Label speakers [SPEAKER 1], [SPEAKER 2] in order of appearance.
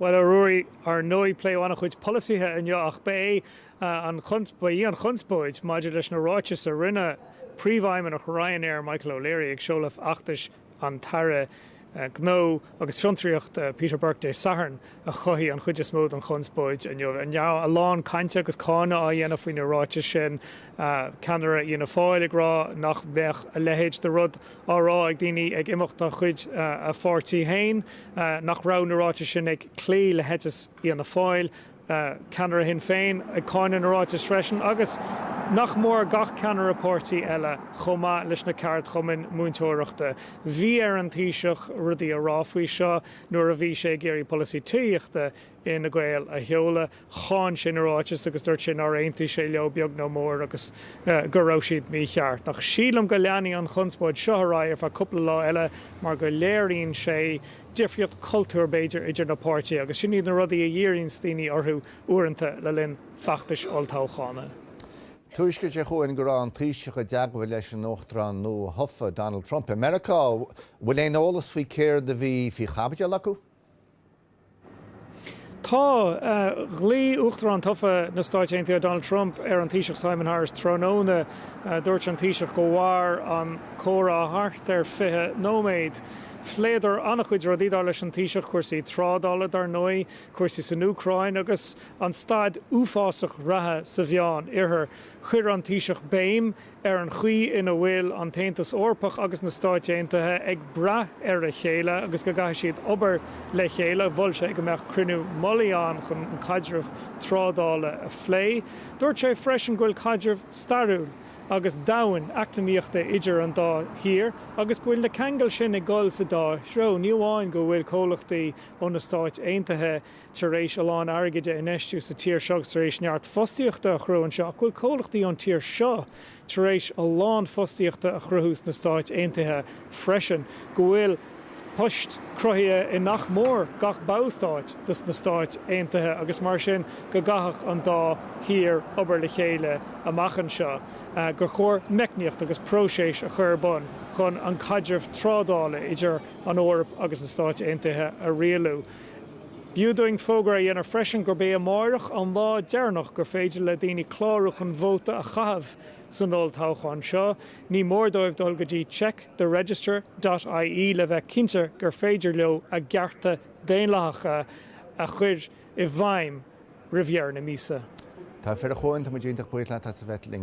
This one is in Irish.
[SPEAKER 1] Bhuel, a Ruairí, ar ndóigh pléadh an-chuid polasaithe inniu ach ba é an, ba í an chonspóid maidir leis na ráitis a rinne Príomhfheidhmeannach Ryanair, Michael O'Leary, ag seoladh fheachtais an tAire Gnó agus Fiontraíochta, Peter Burke, Dé Sathairn a chothaigh an chuid is mó den chonspóid inniu. A lán cainte agus cáineadh á dhéanamh faoi na ráitis sin, ceannaire Fhianna Fáil ag rá nach mbeadh a leithéid de rud á rá ag daoine ag imeacht de chuid a pháirtí féin nach raibh na ráitis sin ag cloí le heiteas Fhianna Fáil, ceannaire Shinn Féin ag cáineadh na ráiteas freisin, agus nach mór gach ceannaire páirtí eile, chomh maith leis na ceardchumainn múinteoireachta. Bhí ar an Taoiseach rudaí a rá faoi seo nuair a bhí sé ag iarraidh polasaí tithíochta Fhine Gael a sheoladh. Cháin sé na ráitis agus dúirt sé nár aontaigh sé leo beag nó mór agus go raibh siad mícheart. Ach sílim go leanfaidh an chonspóid seo ar aghaidh ar feadh cúpla lá eile mar go léiríonn sé difríocht cultúir b'fhéidir idir na páirtithe agus sin iad na rudaí a dhíríonns daoine orthu uaireanta le linn feachtais olltoghchána. Tuairisc
[SPEAKER 2] ag teacht chugainn go raibh an Taoiseach i dteagmháil leis an Uachtarán nua-thofa, Donald Trump, i Meiriceá. Bhfuil aon eolas faoi céard a bhí faoi chaibidil acu?
[SPEAKER 1] Tá. Ghlaoigh Uachtarán tofa na Stáit Aontaithe Donald Trump ar an Taoiseach Simon Harris tráthnóna. Dúirt an Taoiseach gur mhair an comhrá thart ar 20 nóiméad. Phléadar an-chuid rudaí, dar leis an Taoiseach, cúrsaí trádála, dar ndóigh, cúrsaí san Úcráin agus an staid uafásach reatha sa Mheánoirthear. Chuir an Taoiseach béim ar an chaoi ina bhfuil an tAontas Eorpach agus na Stáit Aontaithe ag brath ar a chéile agus go gcaithfidh siad obair le chéile. Mhol sé go mbeadh cruinniú mullaigh ann chun an caidreamh trádála a phlé. Dúirt sé freisin go bhfuil caidreamh stairiúil agus domhain eacnamaíochta idir an dá thír agus go bhfuil na ceangail sin ag dul sa dá threo, ní amháin go bhfuil comhlachtaí ó na Stáit Aontaithe tar éis a lán airgid a infheistiú sa tír seo agus tar éis neart fostaíochta a chruthú anseo, ach go bhfuil comhlachtaí ón tír seo tar éis a lán fostaíochta a chruthú sna Stáit Aontaithe freisin, go bhfuil poist cruthaithe i nach mór gach ballstát de sna Stáit Aontaithe agus mar sin go gcaithfeadh an dá thír obair le chéile amach anseo, gur chóir meicníocht agus próiseas a chur ar bun chun an caidreamh trádála idir an Eoraip agus na Stáit Aontaithe a rialú. B'fhiú dúinn fógra a dhéanamh freisin gurb é amáireach an lá deireanach gur féidir le daoine clárú chun vóta a chaitheamh san olltoghchán seo. Ní mór dóibh dul go dtí check the register dot ie le bheith cinnte gur féidir leo a gcearta daonlathacha a chuir i
[SPEAKER 2] bhfeidhm
[SPEAKER 1] roimh
[SPEAKER 2] dheireadh na míosa. Togha
[SPEAKER 1] fir, a
[SPEAKER 2] Chuain, tá muid iontach
[SPEAKER 1] buíoch
[SPEAKER 2] leat as
[SPEAKER 1] a bheith
[SPEAKER 2] linn.